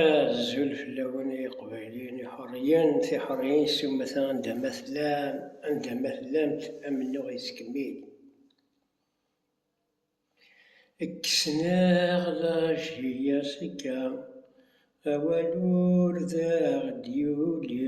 Azul fell-awen ay iqbayliyen iḥuriyen tiḥuriyin s umata anda ma tellam anda ma tellamt amennuɣ yettkemmil kksen-aɣ lajhiyya s akka awal ur d aɣ-d-yuli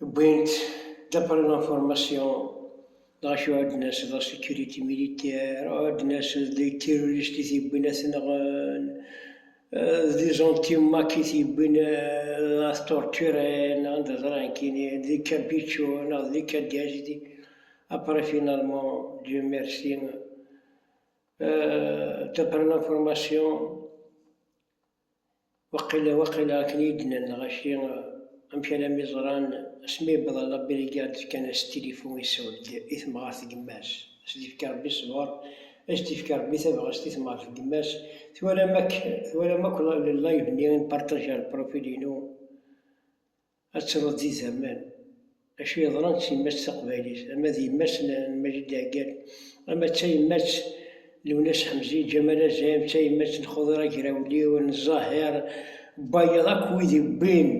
Wwin-t d'après l'information dɣa acu ad d-nas la sécurité militaire, ad d-nas d terroriste i t-yewwin ad t-nɣen, d anti-Mac i t-yewwin ad t-torturen, anda ẓran kini, d Campeche neɣ d Cadiz, après finalement Dieu merci d'après l'information. Waqila, waqila akken iyi-d-nnan lɣaci, amek alammi ẓran, asmi yewweḍ ɣer La Birigarde fkan-as tilifu issew-d i temɣart deg yemma-s, ad s-d-ifk Rebbi ṣṣber, ad s-d-ifk Rebbi tabɣest i temɣart deg yemma-s, twalam akk, twalam akk le live-nni i n-partajeɣ le profil-inu? Ad truḍ di zaman. Acu yeḍran s yemma-s taqbaylit, ama d yemma-s n Majid Leɛgal, ama d tayemmat n Lwennas Ḥemzi, Ǧamal Azem, d tayemmat n Xuḍir Agrawliw, n Ẓahir, n wayeḍ akk wid yewwin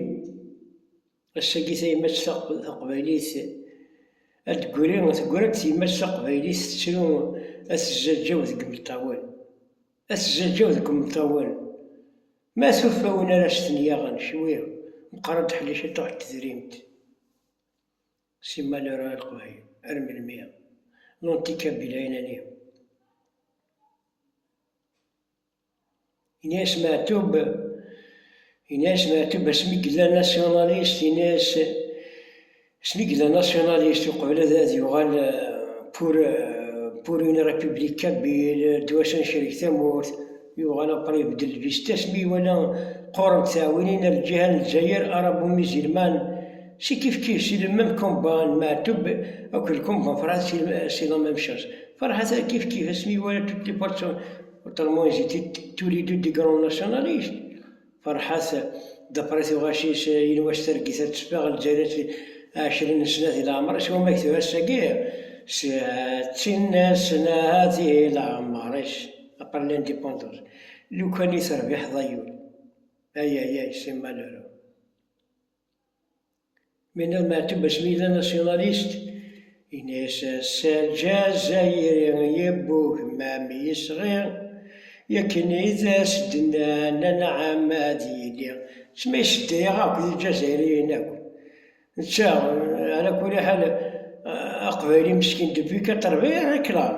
ass-agi tayemmat taqbaylit ad d-tegri, tegra-d tyemmat taqbaylit tettru ad tezzaǧǧaw deg imeṭṭawen. Ad tezzaǧǧaw deg imeṭṭawen Ma tufa win ara s-ten-yaɣen cwi, meqqar-d ḥlic i ṭṭuḥ n tedrimt. Si malheur a leqbayel, ar melmi? Lonti kabila inani. Ini-as Meɛtub, ini-as Meɛtub asmi yella nationaliste, ini-as Snigla nasyonalist uqbel ad ad yuɣal pour pour une république kabyle doit s'enchereg tamurt yuɣal après ibeddel vistas mi iwala qqurent teɛwinin ar lǧiha n Lezzayer arabo mizilman c'est kifkif c'est le même combat n Meɛtub akk le combat n Ferhat c'est la même chose Ferhat kifkif asmi iwala toutes les portes sont autrement ils étaient tous les deux des grands nationalistes Ferḥat Depre tuɣac-is yenwa s targit ad teffeɣ lǧal-as ɛecrin n snat di leɛmer, s wamek tura ass-agi settin n snat i leɛmer-is, après l'indépendance, lukan i terbiḥeḍ ay ul, ayayay c'est malheureux. Menna Meɛtub Basmida nasyunalyst, yenna-as ass-a Lǧazayri yewweg mam yesɣi, yakken i d as-d-nnan anɛam ad yili tma iseddayeɣ akk d Lǧazayriyen akk, netta ala kuli ḥal aqbayli meskin depuis quatre-vingt et quelque ans.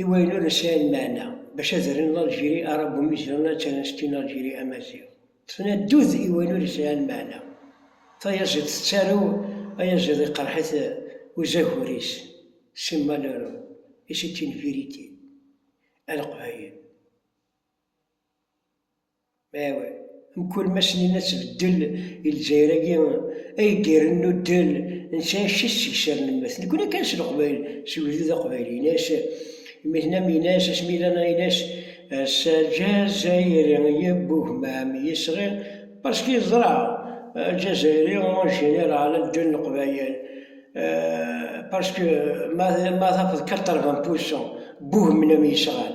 I wayen ur nesɛi lmeɛna, bac azren n Algérie arabe umi zedɣen ad ttren s tin Algérie amaziɣ. Ṭṭfen addud i wayen ur yesɛi lmeɛna. Tayaziḍt tettarew, ayaziḍ iqerreḥ-it uzagur-is, c'est malheureux et c'est une vérité, a Leqbayel. Mkul ma snin ad tbeddel i Lezzayer-agi ay d-irren nuddel n tɛict-is seg sser n mmet. Nekni kan s leqbayel, s ugdud aqbayli. Ini-as mmi-tnam, ini-as asmi yella neɣ ini-as s aljazayri yebugmam yesɣi parce que yeẓra aljazayri en général ad ddun leqbayel parce que ma tafeḍ quatre-vingts pour cent bugmnam yesɣan.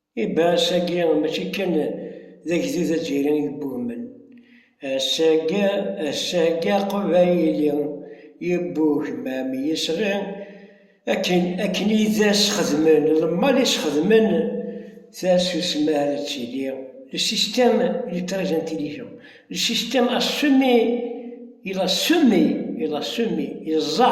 Ibaɛas-agi mačči kan d agdud azzayri i yebbuhmen, ass-agi aqbayli yebbuhmam yisɣi akken i as-xedmen lemmal i s-xedmen tasusma ara d-tili, le système électrique intelligent, le système a semé, il a semé, il a semé, yeẓẓa.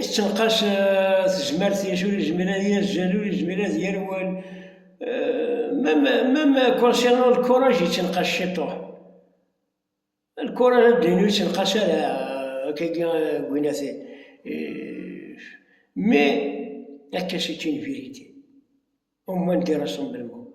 Yettenqas tezmert i ur yezmir ad yazzel, ur yezmir ad yerwel. Même concernant le courage yettenqas ciṭuḥ. Le courage ad d-nini ur yettenqas ara akkagi Gwinati. Mais akka c'est une vérité. Au moins dire son bel mot.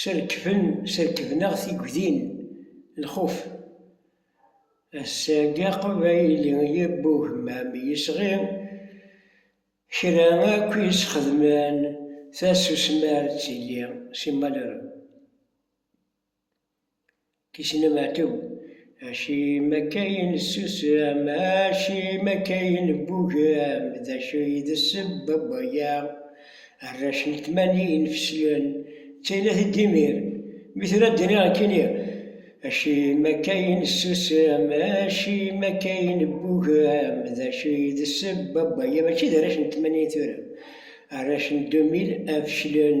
Serkben, serkben-aɣ tigdin, lxuf. Ass-agi aqbayli yewwi ugemmam yesɣi, kra akk i s-xedmen tasusmi ar d-tili, si Malrem. Kisen ameɛtub. Acimi akka i nessusam, acimi akka i neggugem, d acu i d ssebba n waya? Arrac n tmanyin feslen, d tayla i d imir. Mi tura ad d-iniɣ nekkini, Acimi akka i nessusem, acimi akka i neggugem, d acu i d ssebba n waya? Mačči d arrac n tmanyin tura, arrac n 2000 feslen.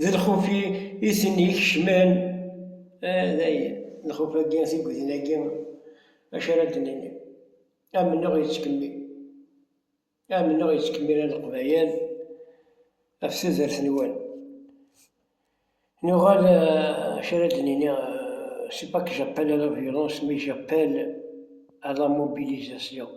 D lxuf-i i ten-ikecmen. Ah, dayen, lxuf-agi, tigedin-agi, acu ara d-nini? Amennuɣ yettkemmil, amennuɣ yettkemmil a Leqbayel ɣef tudert-nwen. Nuɣal acu ara d-nini, c'est pas que j'appelle à la violence mais j'appelle à la mobilisation.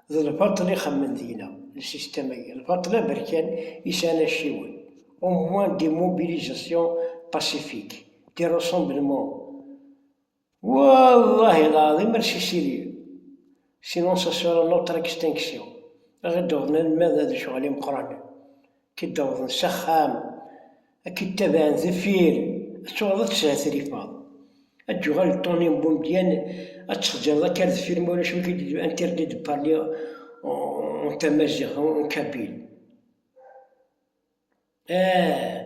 D lbaṭel i xemmen deg-neɣ, le système agi, lbaṭel aberkan i sɛan acciwen, au moins des mobilisations pacifiques, des rassemblements. Wallahi lɛaḍim ar sisili, sinon ça sera notre extinction, ad d-awḍen alma d lecɣal imeqqranen, ad k-id-awḍen s axxam, ad k-id-tabɛen deffir, ad tuɣaleḍ ad teshetrifaḍ, ad d-yuɣal Tony n Boumediene, ad ttxeǧǧreḍ akka ar deffir ma ulac amek i d interdit de parler en tamaziɣt, en kabyle. Ahh.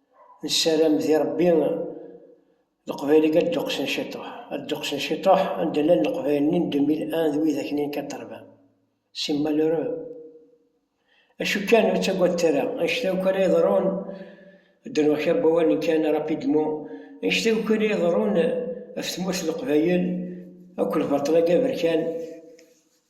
nessaram di Ṛebbi Leqbayel-agi ad dduqsen ciṭuḥ, ad dduqsen ciṭuḥ anda llan Leqbayel-nni n 2001 d wid aknin kan ṭṭerban. C'est malheureux. Acu kan, ur ttagadet ara, annect-a akk ara yeḍrun, ad d-rnuɣ kra n wawalen kan rapidement, annect-a akk ara yeḍrun ɣef tmurt n Leqbayel, akk lbaṭel-agi aberkan,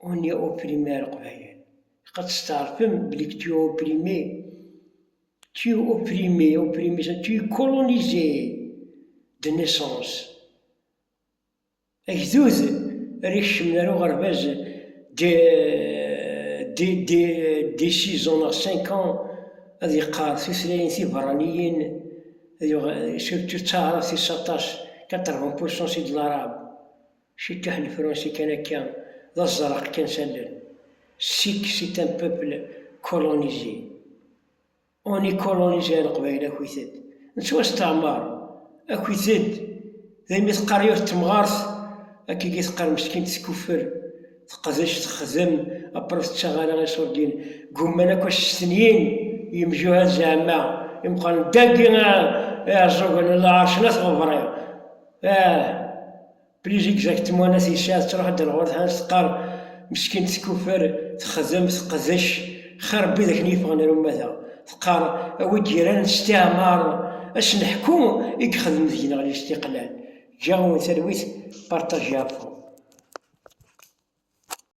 On est opprimé a Leqbayel. Ilaq ad testeɛrfem belli que tu es opprimé. Tu es opprimé, opprimé, ça, tu es colonisé de naissance. Agdud ara ikecmen ar uɣerbaz de, de, de, de six ans neɣ cinq ans ad yeqqar tutlayin tiberraniyin, surtout d taɛrabt-is aṭas, 80% c'est de l'arabe. Cekkeḥ le français kan akka d aẓraq kan s allen. Sikk c'est un peuple colonisé. On est colonisé a leqbayel akit-ed nettwasteɛmer akit-ed d ayen mi teqqar yiwet temɣart akk-igi teqqar meskint tkuffer teqdec texdem après ur tettaɣ ara iṣurdiyen gumman akk a s-stenyin yemjuhad zeɛma imeqqranen dagi iɛeẓẓugen n lɛerc n at ɣebṛiɣ Brigitte exactement ass yesɛa tettruḥ-d ar ɣur tḥanct teqqar meskint tekufer texdem teqdec xir n widak n yefɣen ar ummata teqqar a wi d-yeran s tiɛmar ad s-neḥku i yexdem deg-neɣ lestiqlal. Ǧǧiɣ-awen talwit partagez info.